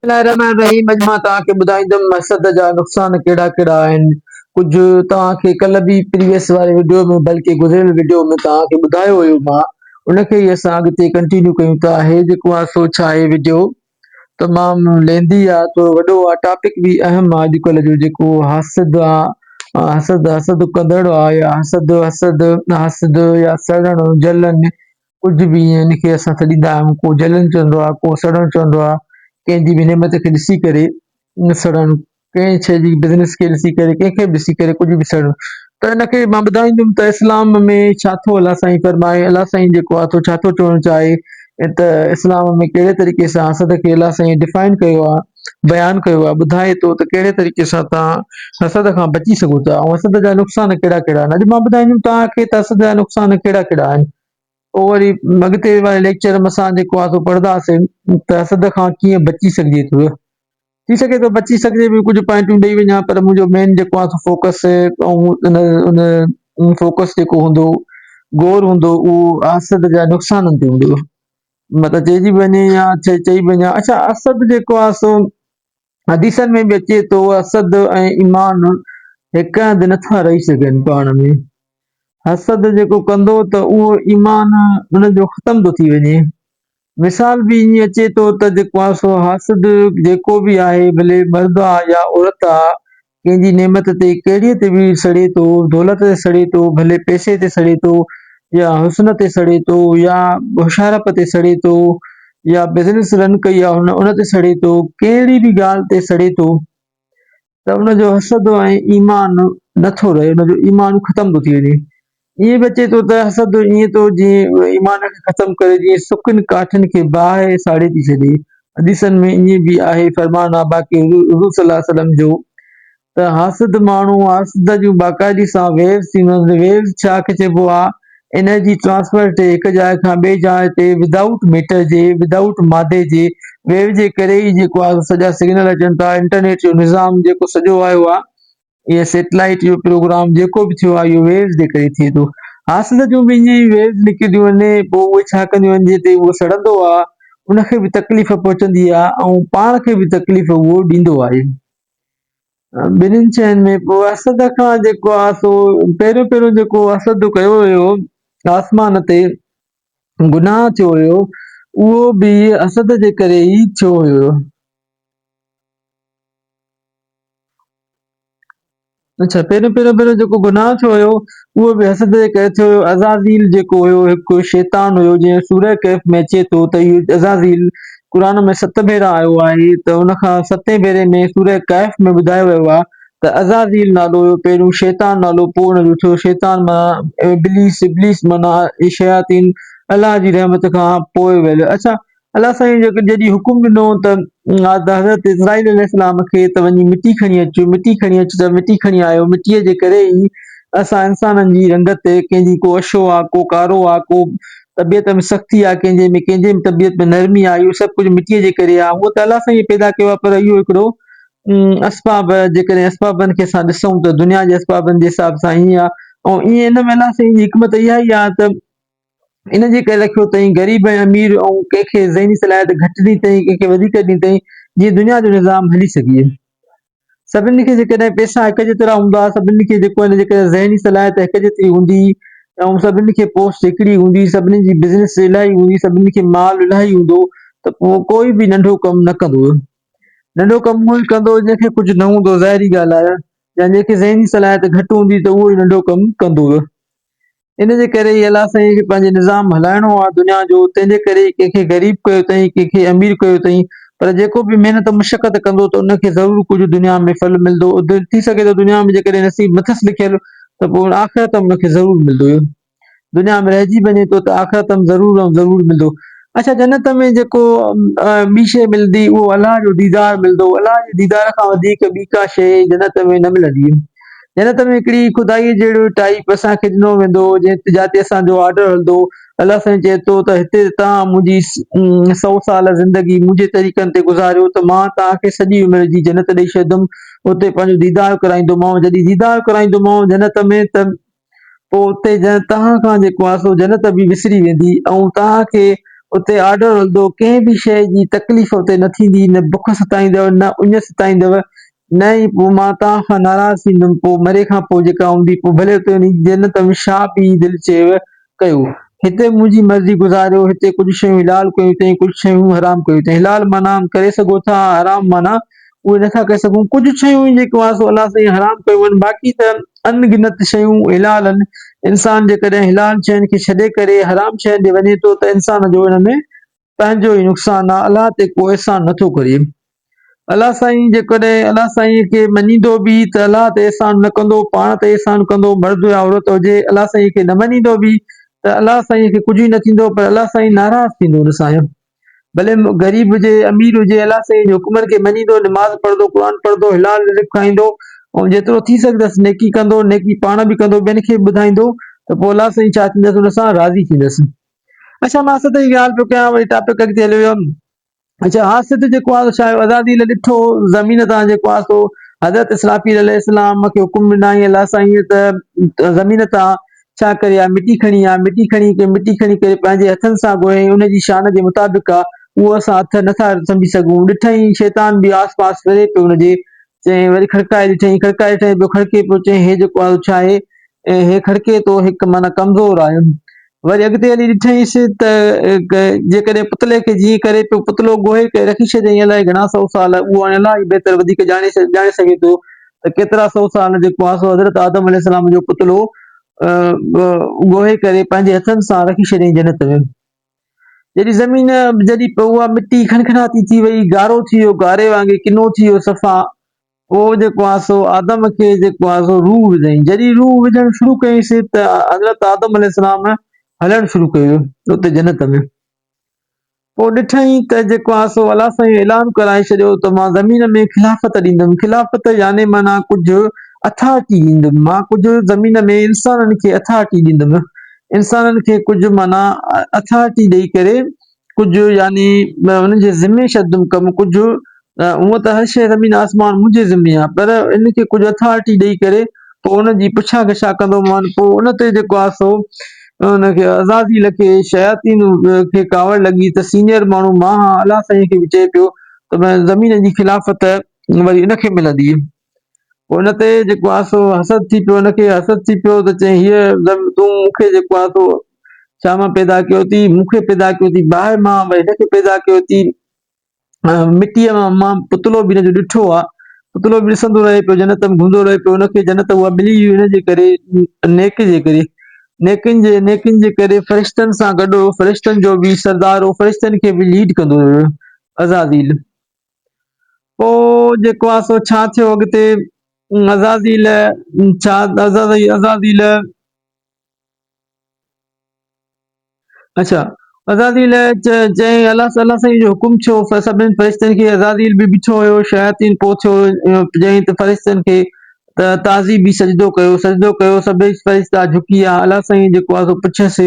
بسم الله الرحمٰن الرحيم اڄ مان توهان کي ٻڌائيندم مسد جا نقصان ڪهڙا ڪهڙا آهن ڪجهه توهان کي ڪلهه به پريويس واري وڊيو ۾ بلڪه گذريل وڊيو ۾ توهان کي ٻڌايو هيو مان ان کي ئي اسان اڳتي ڪنٽينيو ڪيون ٿا هي جيڪو آهي سو ڇا هي وڊيو تمام ليندي آ ٿورو وڏو آ ٽاپڪ به اهم آ اڄ ڪلهه جو جيڪو حسد آ حسد حسد ڪندڙ آ يا حسد حسد حسد يا سڙڻ جلن ڪجهه به ائين ان کي اسان سڏيندا آهيون ڪو جلڻ چوندو آهي ڪو سڙڻ چوندو آهي ڪنهن جي به نعمت کي ڏسي ڪري نه سڙڻ ڪنهن شيء جي بزنس کي ڏسي ڪري ڪنهن کي به ڏسي ڪري ڪجهه به سڙڻ ته ان کي مان ٻڌائيندم ته اسلام ۾ ڇا ٿو الله سائين فرمائي الله سائين جيڪو آهي سو ڇا ٿو چوڻ چاهي ته اسلام ۾ ڪهڙي طريقي سان اسد کي الله سائين ڊفائن ڪيو آهي بيان ڪيو آهي، ٻڌائي ٿو ته ڪهڙي طريقي سان توهان حسد کان بچي سگهو ٿا ۽ حسد جا نقصان ڪهڙا ڪهڙا آهن. اڄ مان ٻڌائيندم توهان کي ته حسد جا نقصان ڪهڙا ڪهڙا آهن. پوء وري اڳتي واري ليڪچر ۾ اسان جيڪو آهي سو پڙهنداسين ته حسد کان ڪيئن بچي سگهجي ٿو. ٿي سگهي ٿو بچي سگهجي به ڪجهه پوائنٽون ڏئي وڃان پر منهنجو مين جيڪو آهي سو فوڪس فوڪس جيڪو هوندو غور هوندو اهو حسد جا نقصانن تي هوندو. مطلب چئجي وڃي يا چئي وڃي اڇا اسد جيڪو آهي سو حديثن ۾ به اچي ٿو اسد ۽ ايمان هڪ هنڌ نٿا رهي سگهن پاڻ ۾ اسد جيڪو ڪندو ته اهو ايمان ان جو ختم ٿو ٿي وڃي مثال به ائين اچي ٿو ته جيڪو آهي سو حسد جيڪو به آهي ڀلي مرد آهي يا عورت آهي ڪنهن جي نعمت تي ڪهڙيء تي وير سڙي ٿو، دولت تي سڙي ٿو، ڀلي پئسي تي سڙي ٿو يا حسن تي سڙي ٿو يا هوشيارپ تي سڙي ٿو يا بزنس رن ڪئي آهي هن ان تي سڙي ٿو، ڪهڙي به ڳالهه تي سڙي ٿو ته ان جو حسد ۽ ايمان نه ٿو رهي، ان جو ايمان ختم ٿو ٿي وڃي. ائين به اچي ٿو ته حسد ائين ٿو جيئن ايمان کي ختم ڪري، جيئن سڪن ڪاٺين کي باهه ساڙي ٿي ڇڏي. حديثن ۾ ائين به آهي، فرمان آهي باقي حضور حضور صلّي الله عليه وسلّم جو ته حاسد ماڻهو حسد جون باقاعدي سان ويوز ٿيندو آهي ته ويوز ڇا کي چئبو آهي انرجي ٽرانسفر تي هڪ جاء کان ٻي جاء تي ود آئوٽ ميٽر جي ود آئوٽ مادي جي ويو جي ڪري ئي جيڪو آهي سو سڄا سگنل اچن ٿا انٽرنيٽ جو نظام جيڪو سڄو آيو آهي اهي سيٽلائيٽ اهو پروگرام جيڪو به ٿيو آهي اهو ويوز جي ڪري ٿئي ٿو حاصل جو به ائين ويوز نڪريون آهن پوء اهي ڇا ڪنديون آهن جتي اهو سڙندو آهي ان کي به تڪليف پهچندي آهي ۽ پاڻ کي به تڪليف اهو ڏيندو آهي ٻنهين شين ۾ پوء اسد کان جيڪو آهي سو پهريون پهريون جيڪو اسد ڪيو ويو آسمان تي گناهه ٿيو هيو اهو به اسد جي ڪري ئي ٿيو هيو اڇا پهريون پهريون پهريون جيڪو گناهه ٿيو هيو اهو به حسد جي ڪري ٿيو هيو عزازيل جيڪو هيو هڪ شيطان هيو جنهن سوره ڪهف ۾ اچي ٿو ته اهو عزازيل قرآن ۾ ست ڀيرا آيو آهي ته ان کان ستين ڀيري ۾ سوره ڪهف ۾ ٻڌايو ويو آهي ته عزازيل نالو هيو پهريون شيطان نالو پوء ان جو ٿيو شيطان معنيٰ ابليس ابليس معنيٰ شياطين الله جي رحمت کان پوء ويل اڇا الله سائين جيڪي جڏهن حڪم ڏنو ته حضرت اسرائيل عليه السلام کي ته وڃي مٽي کڻي اچ، مٽي کڻي اچ ته مٽي کڻي آيو، مٽيء جي ڪري ئي اسان انسانن جي رنگت تي ڪنهن جي ڪو اشو آ، ڪو ڪارو آ، ڪو طبيعت ۾ سختي آ، ڪنهن جي ۾ ڪنهن جي طبيعت ۾ نرمي آ، اهو سڀ ڪجهه مٽيء جي ڪري آ، هو ته الله سائين پيدا ڪيو آ پر اهو هڪڙو اسباب جيڪڏهن اسبابن کي اسان ڏسون ته دنيا جي اسبابن جي حساب سان ائين آ ۽ ائين ان ۾ الله سائين جي حڪمت اها ئي آ ته ان جي ڪري رکيو اٿئي غريب ۽ امير ۽ ڪنهن کي ذهني صلاحيت گهٽ ڏني اٿئي ڪنهن کي وڌيڪ ڏني اٿئي جيئن دنيا جو نظام هلي سگهي سڀني کي جيڪڏهن پئسا هڪ جيترا هوندا سڀني کي جيڪو آهي جيڪڏهن ذهني صلاحيت هڪ جيتري هوندي ۽ سڀني کي پوسٽ هڪڙي هوندي سڀني جي بزنس الائي هوندي سڀني کي مال الائي هوندو ته پوء ڪوئي به ننڍو ڪم نه ڪندو ننڍو ڪم اهو ئي ڪندو جنهن کي ڪجهه نه هوندو ظاهري ڳالهه آهي جنهن کي ذهني صلاحيت گهٽ هوندي ته اهو ئي ننڍو ڪم ڪندو ان جي ڪري ئي الله سائين کي پنهنجي نظام هلائڻو آ دنيا جو تنهن جي ڪري ئي ڪنهن کي غريب ڪيو اٿئين ڪنهن کي امير ڪيو اٿئين پر جيڪو به محنت مشقت ڪندو ته ان کي ضرور ڪجهه دنيا ۾ ڦل ملدو ٿي سگهي ٿو دنيا ۾ جيڪڏهن نصيب نه اٿس لکيل ته پوء ان آخرت ۾ ان کي ضرور ملدو دنيا ۾ رهجي وڃي ٿو ته آخرت ۾ ضرور ۽ ضرور ملدو اڇا جنت ۾ جيڪو ٻي شيء ملدي اهو الله جو ديدار ملدو الله جي ديدار کان وڌيڪ ٻي ڪا شيء جنت ۾ نه ملندي جنت ۾ هڪڙي خدائيء جهڙو ٽائيپ اسان کي ڏنو ويندو، جنهن تي جاتي اسان جو آرڊر هلندو. الله سائين چئي ٿو ته هتي ته توهان منهنجي سؤ سال زندگي منهنجي طريقن تي گذاريو ته مان توهان کي سڄي عمر جي جنت ڏئي ڇڏيندم. اتي پنهنجو ديدار ڪرائيندومانء. جڏهن ديدار ڪرائيندومانء جنت ۾، ته. پوء اتي ڄڻ توهان کان جيڪو آسو جنت به وسري ويندي ۽ توهان کي اتي آڏو رلندو ڪنهن به شيء جي تڪليف اتي نه ٿيندي، نه بک ستائيندؤ، نه اڃ ستائيندؤ، نه ئي پوء مان توهان کان ناراض ٿيندم، پوء مري کان پوء جيڪا هوندي پوء ڀلي اتي وڃي جنت ۾ شاهه پيهي دل چيو ڪيو. هتي منهنجي مرضي گذاريو، هتي ڪجهه شيون حلال ڪيون اٿئي ڪجهه شيون حرام ڪيون اٿئي، حلال معنيٰ ڪري سگهو ٿا ۽ حرام معنيٰ اهي نه ٿا ڪري سگهون، ڪجهه شيون آهن جيڪو آسو الله سائين حرام ڪيون آهن باقي ته ان گنت شيون حلال آهن، انسان جيڪڏهن حلال شين کي ڇڏي ڪري حرام شين ڏي وڃي ٿو ته انسان جو ان ۾ پنهنجو ئي نقصان آهي الله تي ڪو احسان نه ٿو ڪري الله سائين جيڪڏهن الله سائين کي مڃيندو به ته الله تي احسان نه ڪندو پاڻ تي احسان ڪندو مرد يا عورت هجي الله سائين کي نه مڃيندو به ته الله سائين کي ڪجهه ئي نه ٿيندو پر الله سائين ناراض ٿيندو ان سان ڀلي غريب هجي امير هجي الله سائين جي حڪمن کي مڃيندو نماز پڙهندو قرآن پڙهندو حلال رزق کائيندو ۽ جيترو ٿي سگهندس نيڪي ڪندو نيڪي پاڻ به ڪندو ٻين کي به ٻڌائيندو ته پوء الله سائين ڇا ٿيندس ان سان راضي ٿيندس اڇا مان اسد جي ڳالهه پيو ڪيان وري ٽاپڪ اڳتي هليو ويم اڇا ها اسد جيڪو آهي سو ڇا آهي آزادي لاء ڏٺو زمين تان جيڪو آهي سو حضرت اسرافيل عليه السلام کي حڪم ڏنائين الله سائين ته زمين تان ڇا ڪري آء مٽي کڻي آء مٽي کڻي ڪي مٽي کڻي ڪري پنهنجي هٿن سان گوهين ان جي شان جي مطابق آ اهو اسان اٿ نه ٿا سمجهي سگهون ڏٺئين شيطان به آس پاس ڦري پيو ان جي چيائين وري کڙڪائي ڏٺئين کڙڪائي ڏٺئين پيو کڙڪي پيو چيائين هي جيڪو آيو ڇا آهي ۽ هي کڙڪي ٿو هڪ معنيٰ ڪمزور آهي وري اڳتي هلي ڏٺئينس ته جيڪڏهن پتلي کي جيئن ڪري پيو پتلو گوهي ڪري رکي ڇڏيائين الائي گهڻا سؤ سال اهو هاڻي الائي بهتر وڌيڪ ڄاڻي ڄاڻي سگهي ٿو ته ڪيترا سو سال جي ڪواسو حضرت آدم عليه السلام جو پتلو ڳوهي ڪري پنهنجي هٿن سان رکي ڇڏيائين جنت ۾. جڏهن زمين جڏهن اها مٽي کنکناتي ٿي وئي، گارو ٿي ويو، گاري وانگي ڪنو ٿي ويو صفا، پوء جي ڪواسو آدم کي جي ڪواسو روح وڌائين. جڏهن روح وجهڻ شروع ڪيائينسين ته حضرت آدم عليه السلام هلڻ شروع ڪيو اتي جنت ۾. پوء ڏٺائين ته جيڪو آسو الله سائين اعلان ڪرائي ڇڏيو ته مان زمين ۾ خلافت ڏيندم. خلافت يعني معنيٰ ڪجهه اٿارٽي ڏيندم. مان ڪجهه زمين ۾ انسانن کي اٿارٽي ڏيندم. انسانن کي ڪجهه معنيٰ اٿارٽي ڏئي ڪري ڪجهه يعني انهن جي ذمي ڇڏندم ڪم ڪجهه هونئن ته هر شيء زمين آسمان منهنجي ذمي آهي پر ان کي ڪجهه اٿارٽي ڏئي ڪري پوء ان جي پڇا ڳڇا ڪندو مان پوء ان تي جيڪو آهي سو ان کي عزازيل کي شياطين کي ڪاوڙ لڳي ته سينئر ماڻهو مان هان الله سائين کي به چئي پيو ته مان زمين جي خلافت وري ان کي ملندي پوء ان تي جيڪو آهي سو حسد ٿي پيو ان کي حسد ٿي پيو ته چئين هيء زمين تون مون کي جيڪو آهي سو ڇا مان پيدا ڪيو اٿئي مون کي پيدا ڪيو اٿئي باهه مان هن کي پيدا ڪيو اٿئي مٽيء مان پتلو به هن جو ڏٺو آهي، پتلو به ڏسندو رهي پيو، جنت ۾ گهمندو رهي پيو، هن کي جنت اها ملي هئي ان جي ڪري، نيڪي جي ڪري، نيڪين جي، نيڪين جي ڪري فرشتن سان گڏ هو، فرشتن جو به سردار هو، فرشتن کي به ليڊ ڪندو هيو، عزازيل. پوء جيڪو آهي سو ڇا ٿيو اڳتي، عزازيل ڇا، عزازيل، اچا عزازيل چيائين، الله تعاليٰ سائين جو حڪم ڇو؟ سڀني فرشتن کي عزازيل به ڇو هيو، شياطين پوء ڇو چيائين ته فرشتن کي ته تعظيم به سجدو ڪيو، سجدو ڪيو، سڀئي فرشتا جهڪي آيا، الله سائين جيڪو آهي سو پڇيس،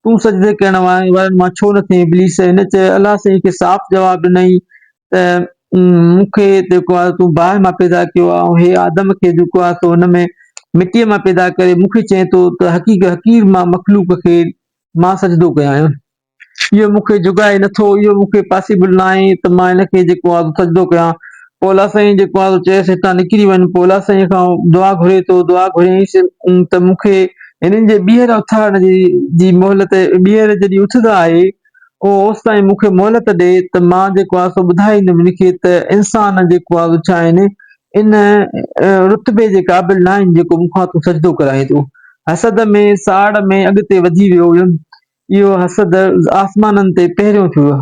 تون سجدي ڪرڻ وارن مان ڇو نه ٿين؟ ابليس هن چيو، الله سائين کي صاف جواب ڏنائين ته مون کي جيڪو آهي تون باهه مان پيدا ڪيو آهي ۽ هي آدم کي جيڪو آهي سو هن ۾ مٽيء مان پيدا ڪري مون کي چئين ٿو ته حقيق حقير مان مخلوق کي مان سجدو ڪيان آهيان اهو مون کي جڳائي نٿو اهو مون کي پاسيبل نه آهي ته مان هن کي جيڪو آهي سجدو ڪيان پوء الله سائين جيڪو آهي سو چيس هتان نڪري وڃ پوء الله سائين کان دعا گهري ٿو دعا گهريائينس ته مون کي هنن جي ٻيهر اٿارڻ جي مهلت ٻيهر جڏهن اٿدا آهي اهو اوستائين مون کي مهلت ڏي ته مان جيڪو آهي سو ٻڌائيندم ان کي ته انسان جيڪو آهي سو ڇا هن ان رتبي جي قابل ناهن جيڪو مون کان تون سجدو ڪرائين ٿو. حسد ۾ ساڙ ۾ اڳتي وڌي ويو هيم. اهو حسد آسمانن تي پهريون ٿيو هو.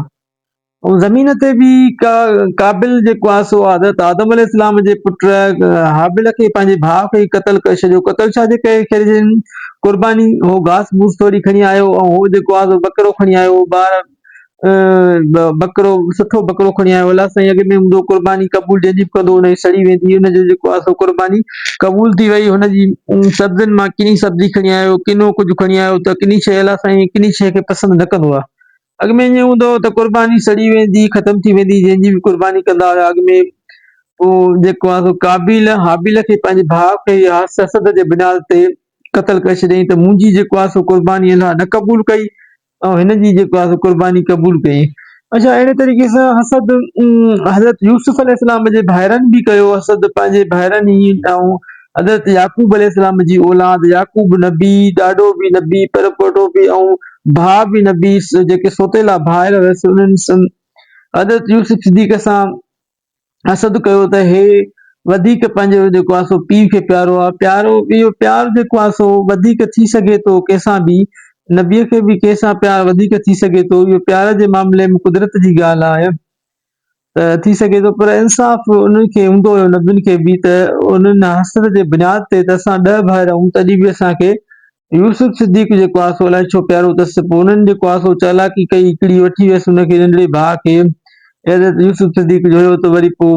۽ زمين تي به قابل جيڪو آهي سو حضرت آدم عليه السلام جي پٽ حابل کي پنهنجي ڀاء کي قتل ڪري ڇڏيو قتل ڇا جي ڪري ڪري ڇڏيائين؟ قرباني هو گاس بوس ٿوري کڻي آيو ۽ هو جيڪو آزو ٻڪرو کڻي آيو هو ٻار ٻڪرو سٺو ٻڪرو کڻي آيو الله سائين اڳ ۾ هوندو قرباني قبول جنهنجي به ڪندو هن جي سڙي ويندي هن جو جيڪو آزو قرباني قبول ٿي وئي هن جي سبزين مان ڪني سبزي کڻي آيو ڪنو ڪجهه کڻي آيو ته ڪني شيء الله سائين ڪني شيء کي پسند نه ڪندو آ اڳ ۾ ائين هوندو هو ته قرباني سڙي ويندي هئي، ختم ٿي ويندي هئي، جنهن جي به قرباني ڪندا هيا اڳ ۾ هو جيڪو آهي سو قابيل هابيل کي پنهنجي ڀاء کي حسد جي بنياد تي قتل ڪري ڇڏيائين ته منهنجي جيڪو آهي سو قرباني الله نه قبول ڪئي ۽ هن جي جيڪو آهي سو قرباني قبول ڪئي اچا اهڙي طريقي سان حسد حضرت يوسف عليه السلام جي ڀائرن به ڪيو حسد پنهنجي ڀائرن ۽ حضرت يعقوب عليه السلام جي اولاد يعقوب نبي، ڏاڏو به نبي، پرپوٽو به ۽ ڀاء به نبي جيڪي سوتيلا ڀائر هيس انهن سن حضرت يوسف صديق سان حسد ڪيو ته هي وڌيڪ پنهنجو جيڪو آهي سو پيء کي پيارو آهي پيارو اهو پيار جيڪو آهي سو وڌيڪ ٿي سگهي ٿو ڪنهن سان به نبي کي به ڪنهن سان پيار وڌيڪ ٿي سگهي ٿو اهو پيار جي معاملي ۾ قدرت جي ڳالهه آهي ته ٿي سگهي ٿو پر انصاف انهن کي هوندو هيو نبين کي به ته انهن حسد جي بنياد تي ته اسان ڏهه ڀائر آهيون تڏهن به اسان کي يوسف صديق جيڪو آهي سو الائي ڇو پيارو اٿس پوء انهن جيڪو آهي سو چالاڪي ڪئي هڪڙي وٺي ويس ان کي ننڍڙي ڀاء کي حضرت يوسف صديق جو هيو ته وري پوء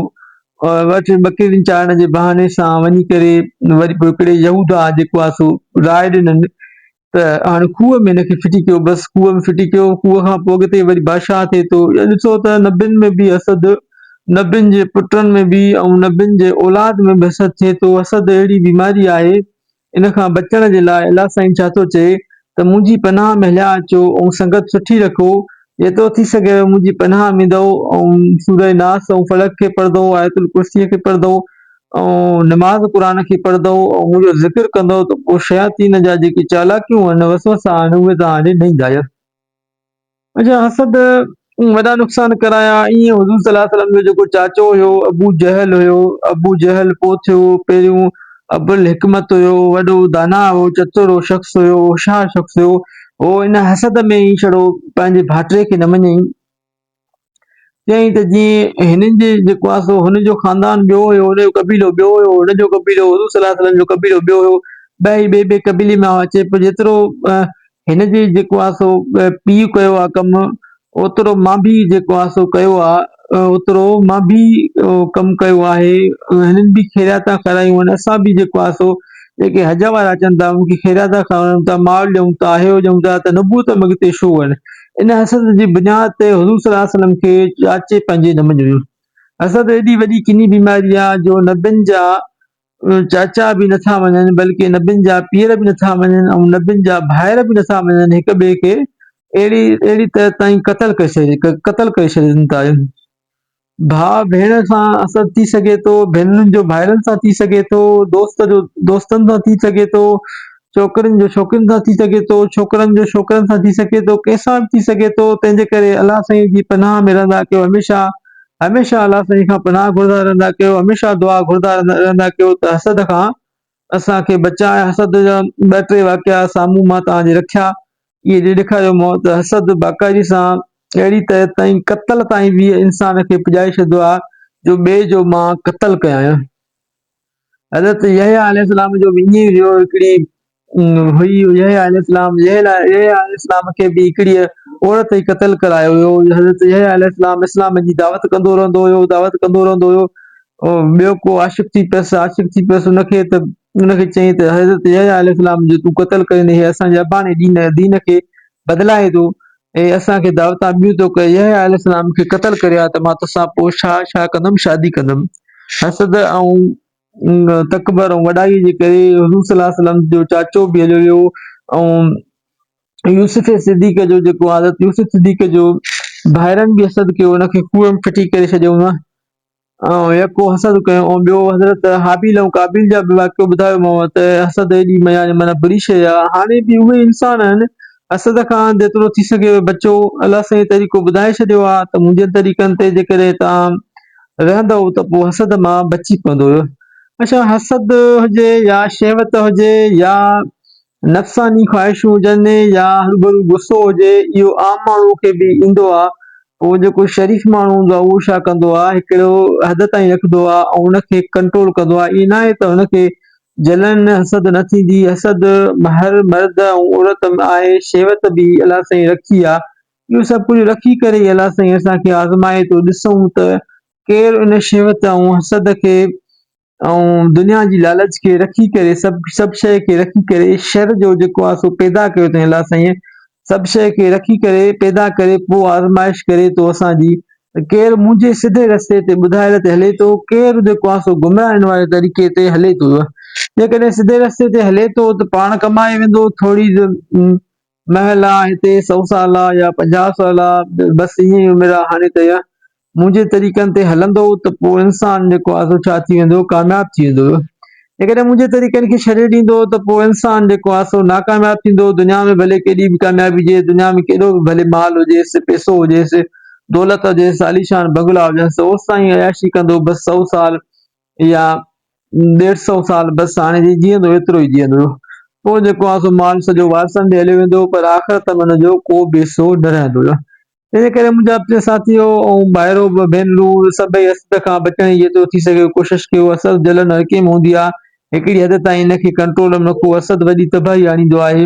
وٽ ٻڪرين چارڻ جي بهاني سان وڃي ڪري وري پوء هڪڙي يهوداه جيڪو آهي سو راء ڏنن ته هاڻي کوهه ۾ هن کي ڦٽي ڪيو، بس کوهه ۾ ڦٽي ڪيو، کوهه کان پوء اڳتي وري بادشاهه ٿئي ٿو، يا ڏسو ته نبين ۾ به حسد، نبين جي پٽن ۾ به ۽ نبين جي اولاد ۾ به حسد ٿئي ٿو، حسد اهڙي بيماري آهي، ان کان بچڻ جي لاء الله سائين ڇا ٿو چئي ته منهنجي پناهه ۾ هليا اچو ۽ سنگت سٺي رکو جيترو ٿي سگهيو منهنجي پناهه ۾ دئو ۽ سوره ناس ۽ فلق کي پڙهه دئو آيت الڪرسيء کي پڙهه دئو ۽ نماز قرآن کي پڙهه دئو ۽ منهنجو ذڪر ڪندئو ته پوء شياطين جا جيڪي چالاڪيون آهن وسوسا آهن اهي توهان ڏي نه ايندا يس. اچا حسد وڏا نقصان ڪرايا ايئن حضور صلي الله عليه وسلم جو جيڪو چاچو هيو ابو جهل هيو ابو جهل پوء ٿيو پهريون ابو الحڪمت هيو وڏو داناء هو چتر هو شخص هيو هوشيار شخص هيو هو ان حسد ۾ ئي ڇڙو پنهنجي ڀاتري کي نه مڃيائين. چيائين ته جيئن هنن جي جيڪو آهي سو هن جو خاندان ٻيو هيو، هن جو قبيلو ٻيو هيو، هن جو قبيلو، حضور صلي الله عليه وسلم جو قبيلو ٻيو هيو، ٻئي ٻئي ٻئي قبيلي مان هئا، چي پوء جيترو هن جي جيڪو آهي سو پيء ڪيو آهي ڪم، اوترو مان به جيڪو آهي سو ڪيو آ اوترو مان به ڪم ڪيو آهي هنن به خيرياتا کارايون آهن اسان به جيڪو آهي سو جيڪي حج وارا اچن ٿا انهن کي خيرياتا کارائون ٿا مال ڏيون ٿا اهو ڏيون ٿا ته نبوت ۾ اڳتي شو آهن ان حسد جي بنياد تي حضور صلي الله عليه وسلم کي چاچي پنهنجي نه مڃيو حسد ايڏي وڏي ڪني بيماري آ جو نبين جا چاچا به نه ٿا مڃن بلڪه نبين جا پيئر به نه ٿا مڃن ۽ نبين جا ڀائر به نه ٿا مڃن هڪ ٻئي کي اهڙي اهڙي طرح تائين قتل ڪري ڇڏي قتل ڪري ڇڏين ٿا ڀاء ڀيڻ سان اسد ٿي سگهي ٿو ڀينرن جو ڀائرن سان ٿي سگهي ٿو دوست جو دوستن سان ٿي سگهي ٿو ڇوڪرين جو ڇوڪرين سان ٿي سگهي ٿو، ڇوڪرن جو ڇوڪرن سان ٿي سگهي ٿو، ڪنهن سان به ٿي سگهي ٿو، تنهن جي ڪري الله سائين جي پناهه ۾ رهندا ڪيو هميشه هميشه الله سائين کان پناهه گهردا رهندا ڪيو هميشه دعا گهردا رهندا ڪيو ته حسد کان اسان کي بچاء حسد جا ٻه ٽي واقعا سامهون مان توهان جي رکيا اهي جي ڏيکاريو مون ته حسد باقاعدي سان اهڙي طرح تائين قتل تائين به انسان کي پڄائي ڇڏيندو آهي جو ٻئي جو مان قتل ڪيان حضرت يحيٰ عليه السلام جو وڃي ويو هڪڙي هئي يحيٰ عليه السلام يحيٰ عليه السلام کي به هڪڙيء عورت ئي قتل ڪرايو هيو حضرت يحيٰ عليه السلام اسلام جي دعوت ڪندو رهندو هيو دعوت ڪندو رهندو هيو ٻيو ڪو عاشق ٿي پيس عاشق ٿي پيس ان کي ته ان کي چيائين ته حضرت يحيٰ عليه السلام جو تون قتل ڪرين هي اسان جي اباڻي دين دين کي بدلائي ٿو اي اسان کي دعوتان ٻيون تو ڪيو يحيٰ عليه السلام کي قتل ڪريو ها ته مان توسان پوء شا شا ڪندم شادي ڪندم حسد ۽ تڪبر ۽ وڏائي جي ڪري حضور صلي الله عليه وسلم جو چاچو به هليو ويو ۽ يوسف صديق جو جيڪو حضرت يوسف صديق جو ڀائرن به حسد ڪيو ان کي کوهه ۾ ڦٽي ڪري ڇڏيو ۽ يڪو حسد ڪيو ۽ ٻيو حضرت هابيل ۽ قابيل جا به واقعو ٻڌايومانو ته حسد ايڏي ميان معنيٰ بري شيء آهي هاڻي به اهي انسان آهن حسد کان جيترو ٿي سگهي اهي بچو الله سائين طريقو ٻڌائي ڇڏيو آهي ته منهنجن طريقن تي جيڪڏهن توهان رهندؤ ته پوء حسد مان بچي پوندؤ ڇا حسد هجي يا شهوت هجي يا نفساني خواهشون هجن يا هرڀرو غصو هجي اهو عام ماڻهو کي به ايندو آهي پوء جيڪو شريف ماڻهو هوندو آهي اهو ڇا ڪندو آهي هڪڙو حد تائين رکندو آهي ۽ ان کي ڪنٽرول ڪندو آهي ائين ناهي ته هن کي جلن حسد نه ٿيندي حسد هر مرد ۽ عورت ۾ آهي شهوت به الله سائين رکي آهي اهو سڀ ڪجهه رکي ڪري ئي الله سائين اسان کي آزمائي ٿو ڏسون ته ڪير ان شهوت ۽ حسد کي ۽ دنيا جي لالچ کي رکي ڪري سڀ سڀ شيء کي رکي ڪري شر جو جيڪو آهي سو پيدا ڪيو اٿئين الله سائينء سڀ شيء کي رکي ڪري پيدا ڪري پوء آزمائش ڪري ٿو اسان جي ته ڪير منهنجي سڌي رستي تي ٻڌايل تي هلي ٿو ڪير جيڪو آهي سو گمراهين واري طريقي تي هلي ٿو جيڪڏهن سڌي رستي تي هلي ٿو ته پاڻ ڪمائي ويندو ٿوري مهلا هتي سؤ سالا يا پنجاهه سالا بس ايئن ئي عمر آ هاڻي ته منهنجي طريقن تي هلندو ته پوء انسان جيڪو آ سو ڇا ٿي ويندو ڪامياب ٿي ويندو جيڪڏهن منهنجي طريقن کي ڇڏي ڏيندو ته پوء انسان جيڪو آ سو ناڪامياب ٿيندو دنيا ۾ ڀلي ڪيڏي به ڪاميابي هجيس دنيا ۾ ڪيڏو به ڀلي مال هجيس پئسو هجيس دولت هجيس عاليشان بنگلا هجنس اوستائين عياشي ڪندو بس سؤ سال يا ڏيڍ سئو سال بس هاڻي جي جيئندو ايترو ئي جيئندو هيو پوء جيڪو آهي سو مال سڄو وارثن ڏي هليو ويندو هو پر آخرت ۾ ان جو ڪو به حصو نه رهندو هيو انهيء ڪري منهنجا پٽ ساٿيو ۽ ڀائرو ڀينرون سڀئي اسد کان بچڻ جي جيترو ٿي سگهي ڪوشش ڪيو اسد جلن هر ڪنهن ۾ هوندي آهي هڪڙي حد تائين ان کي ڪنٽرول ۾ رکو اسد وڏي تباهي آڻيندو آهي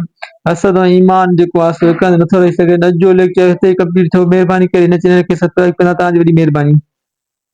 اسد ۽ ايمان جيڪو آهي سو هڪ هنڌ نٿو رهي سگهي اڄ جو ليڪچر هتي ئي ڪمپليٽ ٿيو مهرباني ڪري هن چينل کي سبسڪرائيب ڪندا توهان جي وڏي مهرباني